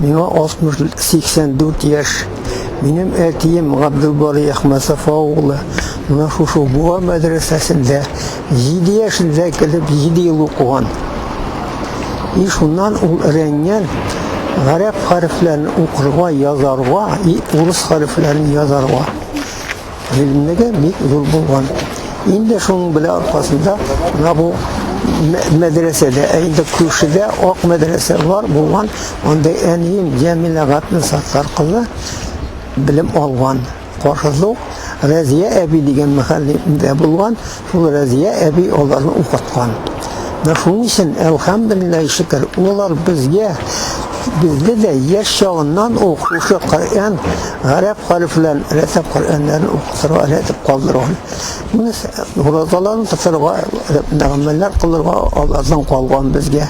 Миңа 60-84 яшь. Минем әтием Габделбарый Әхмәтсафа углы менә шушы Буа мәдрәсәсендә 7 яшендә кереп 7 ел укыган. И шуннан ул рәнгән, гарәп хәрефләрен укырга, язарга, и урыс хәрефләрен язарга. Гыйлемнеге бик зур булган. Инде шуның белән аркасында менә бу мәдрәсәдә, ә инде күршедә ак мәдрәсә бар булган, анда әнием Җәмилә Гатнасаттар кызы белем алган. Каршыда Разия әби дигән мәхәллә булган, Шул Рәзия әби аларны укыткан. Менә шуның өчен, әлхәмдүлилләһи шөкер, алар безгә бездә дә яшь чагыннан ук шушы Коръән гарәп хәрефләрен рәтәп Коръәннәрен укытырга рәтәп калдырган. Менә уразаларын тотарга, мәгамәлләр кылырга алардан калган безгә.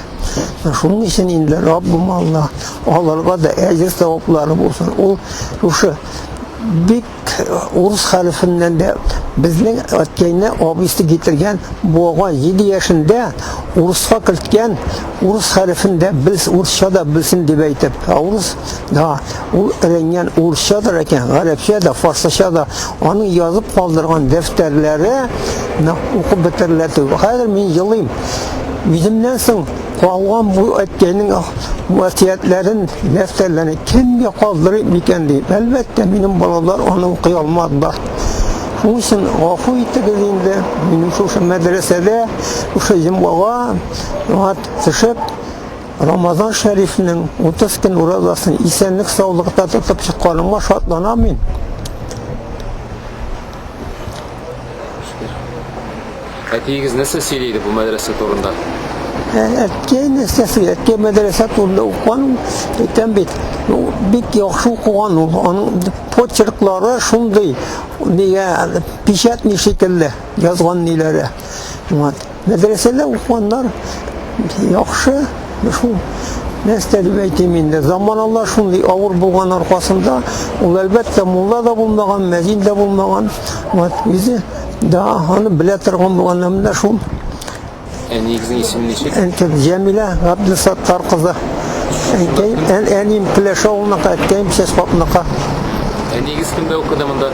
Шуның өчен инде Раббым Алла аларга да әҗер саваплары булсын. Ул шушы бик Урыс хәлефеннән дә безнең әткәйне абыйсы китергән буага 7 яшендә урыска керткән урыс хәлефен дә белс урысча да белсен дип әйтеп урыс да ул рәнгән урысчадыр икән гарәпчә дә фарсыча да аның язып калдырган дәфтәрләре укып бетерелә түгел хәзер мин елыйм үземнән соң Калган бу әткәйнең васыятләрен, дәфтәрләрен кемгә калдырып микән дип. Әлбәттә, минем балалар аны укый алмадылар. Шуның өчен гафу итегез инде, минем шушы мәдрәсәдә, шушы йомгага төшеп, Рамазан шәрифнең 30 көн уразасын исәнлек саулыкта тотып чыкканыма шатланам мин. Әтиегез нәрсә сөйли иде бу мәдрәсә турында? Әткәй нәрсә сөйли? Әткәй мәдрәсә турында укыган, әйтәм бит, ну, бик яхшы укыган ул. Аның почерклары шундый, нигә печатный шикелле язган ниләре. Вот. Мәдрәсәдә укуганнар яхшы, шул нәрсә дип әйтим инде, заманала шундый авыр булган аркасында, ул әлбәттә мулла да булмаган, мәзин дә булмаган, вот үзе да аны белә торган булган, менә шул Әниегезнең исеме ничек? Әнкәм Җәмилә Габдусаттар кызы. Әнкәем, әнием Пеләш авылыныкы, әткәем Чәчкапныкы. Әниегез кемдә укыды монда?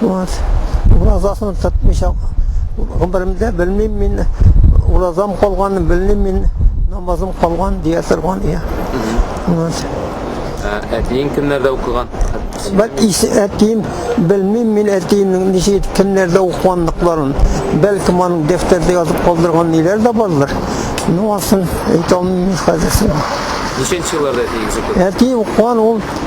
Вот. Уразасын тотмыйча гомеремдә белмим мин уразам калганын белмим мин намазым калган дия торган ия. Вот. Ә әтиең кемнәрдә укыган? Бәл исе әтием белмим мин әтиемнең ничек кемнәрдә укыганлыкларын. Бәлки моның дәфтәрдә язып калдырган ниләр дә бардыр. Ну, асын әйтә алмыйм хәзер. Ничәнче елларда әтиегез укыды? Әти укыган ул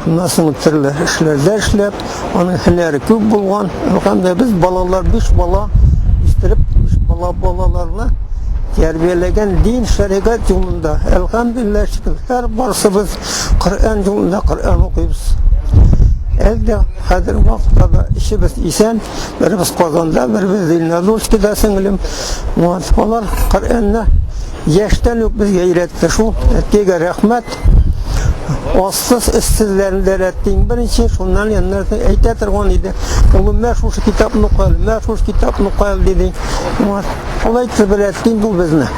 Шуннан соң төрле эшләрдә эшләп, аның һөнәре күп булган. Һәм дә без балалар биш бала үстереп, биш бала балаларны тәрбияләгән дин шәригать юлында. Әлхәмдулиллаһ шөкер, һәр барсыбыз Коръән юлында Коръән укыйбыз. Әлдә хәзер вакытта да эшебез исән, беребез Казанда, беребез Зеленодольскида сеңлем. Алар Коръәнне яшьтән үк безгә өйрәтте шул. Әткәйгә рәхмәт. Ассыз эссезләрен дә рәттим. Беренче шуннан яннар әйтә торган иде. Улым, мә шушы китапны укыл, мә шушы китапны укыл диде. Шулай итеп рәттим бу безне.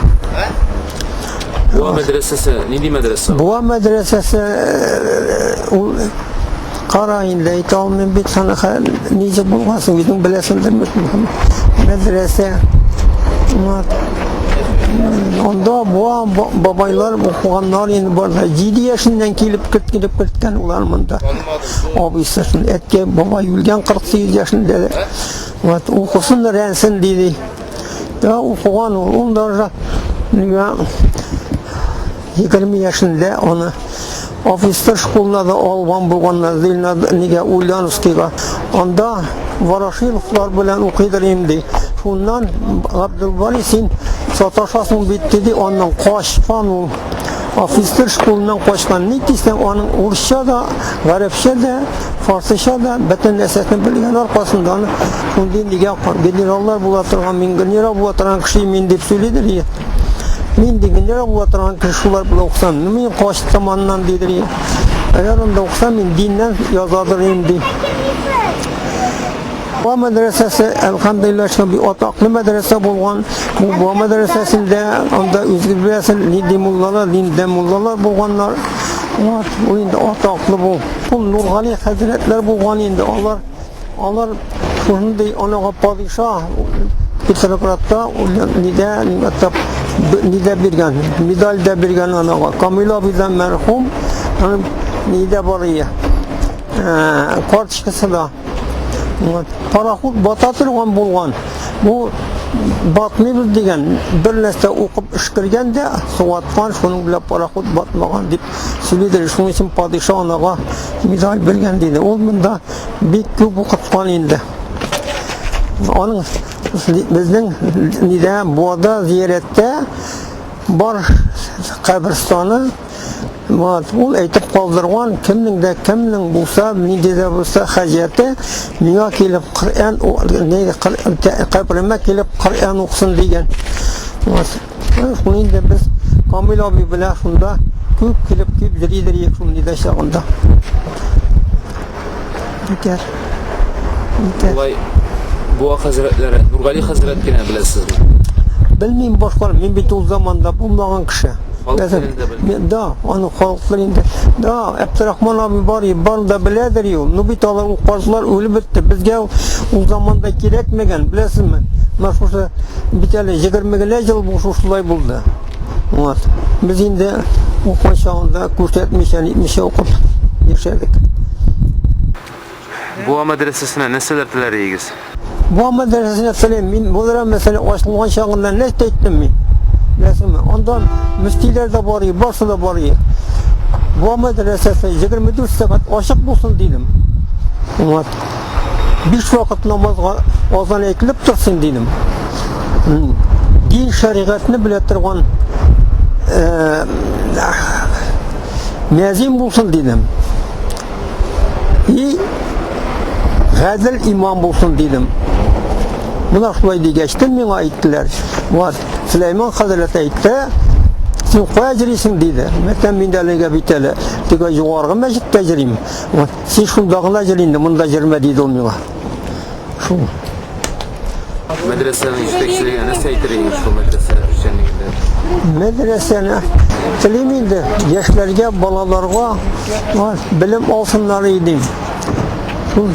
Буа мәдрәсәсе, нинди мәдрәсә? Буа мәдрәсәсе ул Кара инде әйтә алмыйм бит саны ничек булган соң үзең беләсеңдер мәдрәсә анда буа бабайлар укыганнар инде барда җиде яшеннән килеп кертелеп керткән улар монда абыйсы әткәй бабай үлгән кырык сигез яшендә вот укысын рәнсен диде да укыган ул ул даже Егерме яшендә аны офицер школына да алган булганнар, ди нигә Ульяновскийга. Анда Ворошиловлар белән укыйдыр инде. Шуннан Габдулбари син саташасың бит диде, аннан качкан ул. Офицер школыннан качкан. Ни дисәң, аның урысча да, гарәпчә дә, фарсыча да бөтен нәрсәсен белгән аркасында аны шундый нигә генераллар була торган, мин генерал була торган кеше мин дип сөйлидер. Мин дигәндә була торган кеше шулар белән укысам, мин качтым аннан дидер. Әгәр анда укысам, мин диннән язадыр инде. Бу мәдрәсәсе, әлхәмдулилла, шундый атаклы мәдрәсә булган. Бу мәдрәсәсендә анда үзегез беләсез, нинди муллалар, нинди муллалар булганнар. Ул инде атаклы бу. Ул Нургали хәзрәтләр булган инде алар. Алар шундый анага падиша Петроградта нидә атап нидә биргән, медаль дә биргән анага. Камил абыйдан мәрхүм, аны нидә барые. Э, карточкасы да. Вот. Пароход бата торган булган. Бу батмыйбыз дигән бер нәрсә укып эшкергән дә суаткан шуның белән пароход батмаган дип сөйлидер шуның өчен падиша анага медаль биргән диде ул монда бик күп укыткан инде. Аның безнең нидә Буада зиярәттә бар каберстаны Вот, ул әйтеп калдырган, кемнең дә кемнең булса, нинди дә булса хаҗәте, миңа килеп Коръән, каберемә килеп Коръән укысын дигән. Вот. Шул инде без Камил абый белән шунда күп килеп дип йөри йөри шул нидә чагында. Итәр. Итәр. Булай Буа хәзрәтләре, Нургали хәзрәт кенә беләсезме? Белмим башкалар, мин бит ул заманда булмаган кеше. Да, аны халыклар инде. Да, Әптирахман абый бар, бар да беләдер ю. Ну бит алар ул картлар үлеп бетте. Безгә ул заманда кирәкмәгән, беләсезме? Мәшһүр Бит әле 20 генә ел бу шушылай булды. Вот. Без инде укыган чагында күрсәтмичә, нитмичә укып яшәдек. Буа мәдрәсәсенә нәрсәләр теләриегез? Буа мәдрәсәсенә телим. Мин булара мәсәлә ачылган чагында нәрсә әйттем мин? Нәрсәме? Анда мөфтиләр дә бар, барсы да бар. Буа мәдрәсәсе 24 сәгать ачык булсын дидем. Вот. биш вакыт намазга азан әйтелеп торсын дидем. Дин шәригатьне белә торган э, мәзин булсын дидем. И гадел имам булсын дидем. Менә шулай дигәч, миңа әйттеләр. Вот, Сулейман хәзрәт әйтте, син кая йөрисең диде. Мәктәп миндә әлегә бит әле. Тик югаргы мәчеттә йөрим. Син шунда гына җыр инде, монда җырма, диде ул миңа. Шул. Мәдрәсәнең җитәкчелеге нәрсә әйтер иде шул мәдрәсә эшчәнлегендә? Мәдрәсәне телим инде, яшьләргә, балаларга белем алсыннар иде. Шул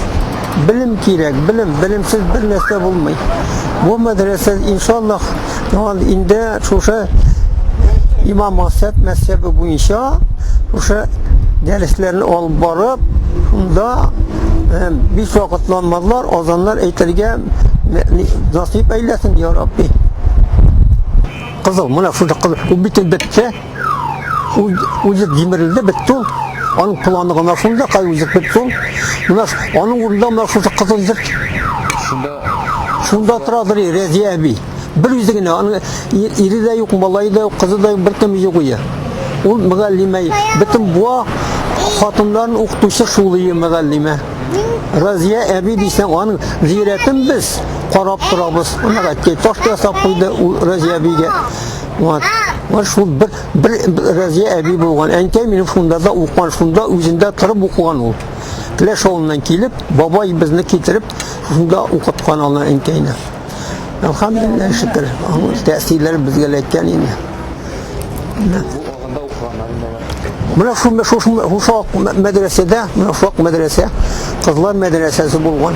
белем кирәк, белем, белемсез бер нәрсә булмый. Бу мәдрәсә иншаллаһ Яңан инде шушы имам Масәт мәсәбе буенча шушы дәресләрне алып барып, шунда э, биш вакыт намазлар, азаннар әйтергә насыйп әйләсен, я Рабби. Кызыл, менә шунда кызыл. Ул бит бетте. үзек җимерелде, бетте ул. Аның планы гына шунда, кай үзек бетте ул. Менә аның урында менә шушы кызыл үзек. Шунда шунда торадыр Рәзия әби. Бер үзе генә, аның ире дә юк, малае да юк, кызы да юк, беркем юк ие. Ул мөгаллимә, бөтен буа хатыннарын укытучы шул ие мөгаллимә. Разия әби дисәң, аның зиярәтен без карап торабыз. Ана әткәй таш ясап куйды ул Разия әбигә. Ван, ван шул бер, бер Разия әби булган. Әнкәй минем шунда да укыган, шунда үзендә торып укыган ул. Клеш авылыннан килеп, бабай безне китереп, шунда укыткан аны әнкәйне. Әлхәмдулилләһ шөкер, аның тәэсирләре безгә эләккән инде. Менә шул шул шул шул мәдрәсәдә, менә шул мәдрәсә, кызлар мәдрәсәсе булган.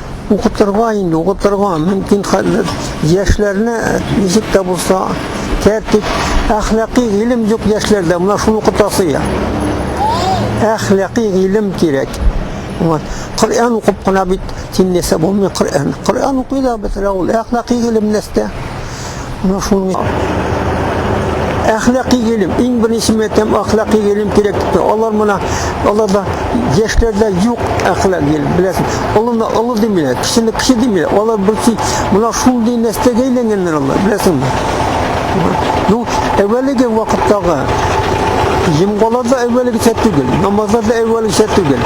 Укытырга инде, укытырга, мөмкин хәлләр. Яшьләрне ничек тә булса тәртип, әхлакый гыйлем юк яшьләрдә, менә шуны укытасы я. Әхлакый гыйлем кирәк. Вот. Коръән укып кына бит тиңләсә булмый Коръән. Коръән укый да бетерә ул әхлакый гыйлем нәрсә? Менә шуның әхлакый гыйлем, иң беренче мәктәп әхлакый гыйлем кирәк дип алар моны аларда яшьләрдә юк әхлак гыйлем, беләсең. Олыны олы димиләр, кешене кеше димиләр. Алар берсе менә шундый нәрсәгә әйләнгәннәр алар, беләсеңме? Ну, әвәлеге вакыттагы Җомгаларда әвәлгечә түгел, намазларда әвәлгечә түгел.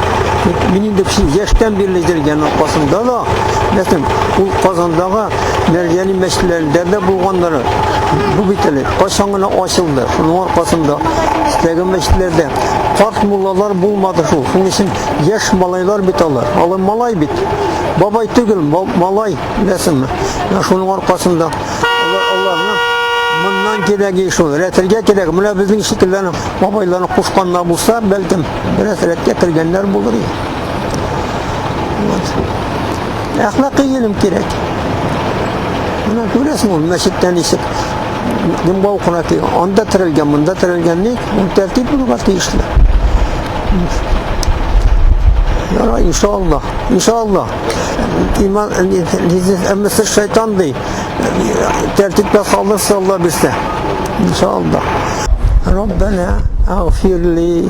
Мин инде яшьтән бирле җәлгән аркасында да, ләкин ул Казандагы Мәрҗәни мәчетләрендә дә булганнары бу бит әле кайчан гына ачылды. Шуның аркасында теге мәчетләрдә карт муллалар булмады шул. Шуның өчен яшь малайлар бит алар. Алар малай бит. Бабай түгел, малай, беләсеңме? Шуның аркасында аларны моннан кирәге шул. Рәтергә кирәк. Менә безнең шикелләрне бабайларны кушканнар булса, бәлкем, бераз рәткә кергәннәр булыр иде. Әхлакый гыйлем кирәк. Менә күрәсең ул мәчеттән ничек дымга укына ки, анда терелгән, монда терелгән ни, ул тәртип булырга тиешле. Яра, иншаллах, иншаллах. Иман, әммесе шайтан ди. Тәртипкә салырса Алла бирсә. Иншаллах. Раббана, агфирли.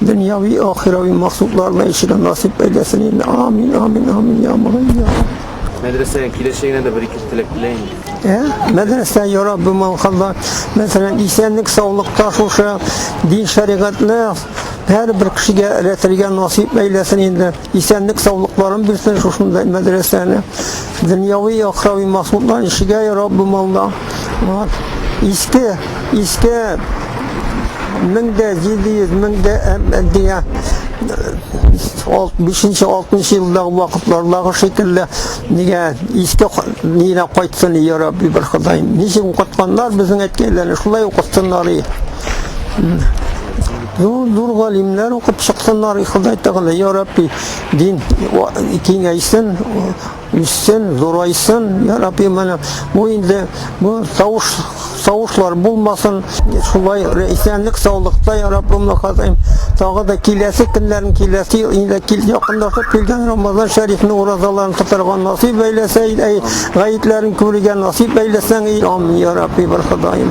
Дөньяви ахирави максатларына ишеге насыйп әйләсен инде. Амин, амин, амин, я мулай, я. Мәдрәсәгә киләчәгенә дә бер-ике теләк теләйм. Ә? Мәдрәсә ярап бу маңкалда. Мәсәлән, исәнлек, саулыкта шушы дин шәригатьле һәрбер кешегә эләтергә насыйп әйләсен инде. Исәнлек саулыкларын бирсен шушындай мәдрәсәне. Дөньяви яхрави махлуклар ишегә ярап бу малда. Иске, иске 1700-1700 5-нче 6-нчы елдагы вакытлардагы шикелле нигә иске нигә кайтсын и Рабби бер Ходай. Ничек укытканнар безнең әткәйләрне шулай укытсыннар и. Юл зур галимнәр укып чыксыннар, и Ходай Тәгалә, я Рабби, дин киңәйсен, үссен, зурайсын, я Рабби, менә бу инде бу тавыш савышлар булмасын, шулай исәнлек саулыкта я Раббым хазаим. Тагы да киләсе көннәрен киләсе ел инде кил якындашып килгән Рамазан шәрифне уразаларын тотарга насыйп әйләсә, әй гаетләрен күрергә насыйп әйләсәң, амин я Рабби, бер Ходаем.